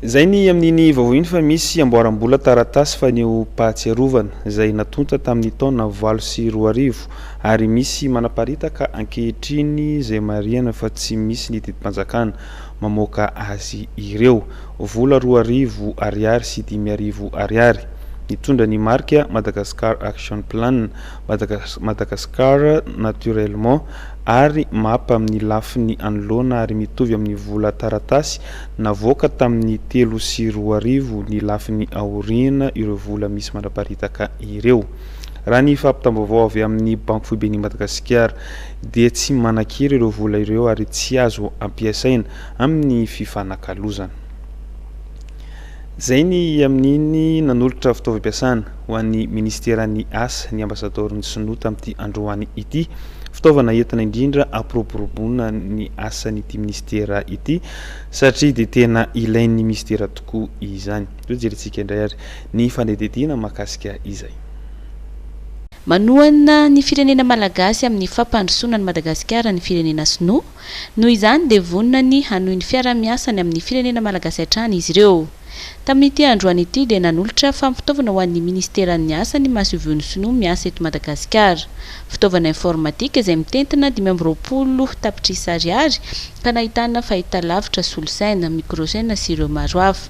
Izay ny amin'iny vaovao iny fa misy amboaram-bola taratasy fanehoam-pahatsiarovana izay natonta tamin'ny taona valo sy roa arivo ary misy manaparitaka ankehitriny izay marihana fa tsy misy ny didim-panjakana mamoaka azy ireo. Vola roa arivo ariary sy dimy arivo ariary. Nitondra ny marika Madagascar Action Plan, Madagascar Naturellement ary map amin'ny lafiny anoloana ary mitovy amin'ny vola taratasy Navoaka tamin'ny telo sy roa arivo ny lafiny aoriana ireo vola misy mandraparitaka ireo. Raha ny fampitam-baovao avy amin'ny Banky Foiben'i Madagasikara dia tsy manan-kery ireo vola ireo ary tsy azo ampiasaina amin'ny fifanakalozana. Izay ny amin'iny nanolotra fitaovam-piasana ho an'ny Minisiteran'ny Asa ny Ambasadaoron'ny Sinoa tamin'ity androany ity. Fitaovana entina indrindra hampiroboroboana ny asan'ity Minisitera ity satria dia tena ilain'ny Minisitera tokoa izany. Toa jerentsika indray ary ny fanadihadiana mahakasika izay. Manohana ny firenena malagasy amin'ny fampandrosoana an'i Madagasikara ny firenena sinoa. Noho izany dia vonona ny hanohy ny fiaraha-miasany amin'ny firenena malagasy hatrany izy ireo. Tamin'ity androany ity dia nanolotra fampitaovana ho an'ny Minisiteran'ny Asa ny masoivohon'ny Sinoa miasa eto Madagasikara. Fitaovana informatika izay mitentina dimy amby roapolo tapitrisa ariary ka nahitana fahitalavitra, solosaina, mikrôsaina sy ireo maro hafa.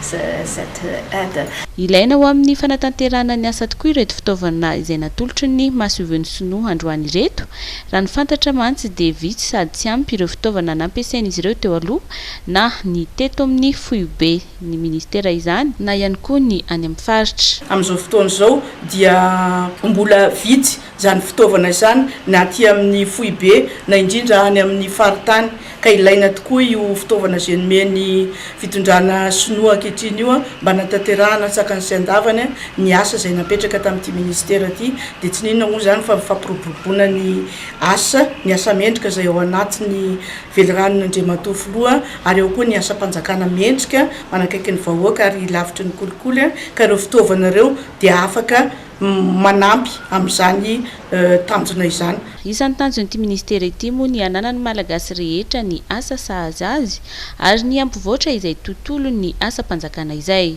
cette aide. Ilaina ho amin'ny fanatanterahana ny asa tokoa ireto fitaovana izay natolotry ny masoivohon'ny sinoa androany ireto. Raha ny fantatra mantsy dia vitsy sady tsy ampy ireo fitaovana nampiasain'izy ireo teo aloha na ny teto amin'ny foiben'ny ministera izany na ihany koa ny any amin'ny faritra. Amin'izao fotoana izao dia mbola vitsy izany fitaovana izany na aty amin'ny foibe na indrindra any amin'ny faritany ka ilaina tokoa io fitaovana izay nomen'ny fitondrana sinoa ankehitriny io mba hanatanterahana an-tsakany sy an-davany ny asa izay napetraka tamin'ity minisitera ity dia tsy n'inona moa izany fa ny fampiroboroboana ny asa ny asa mendrika izay ao anatin'ny veliranon'Andriamatoa Filoha ary ao koa ny asam-panjakana mendrika manakaiky ny vahoaka ary lavitry ny kolikoly ka ireo fitaovana ireo dia afaka manampy amin'izany tanjona izany. Isan'ny tanjon'ity ministera ity moa ny hananan'ny Malagasy rehetra ny asa sahaza azy ary ny hampivoatra izay tontolon'ny asam-panjakana izay.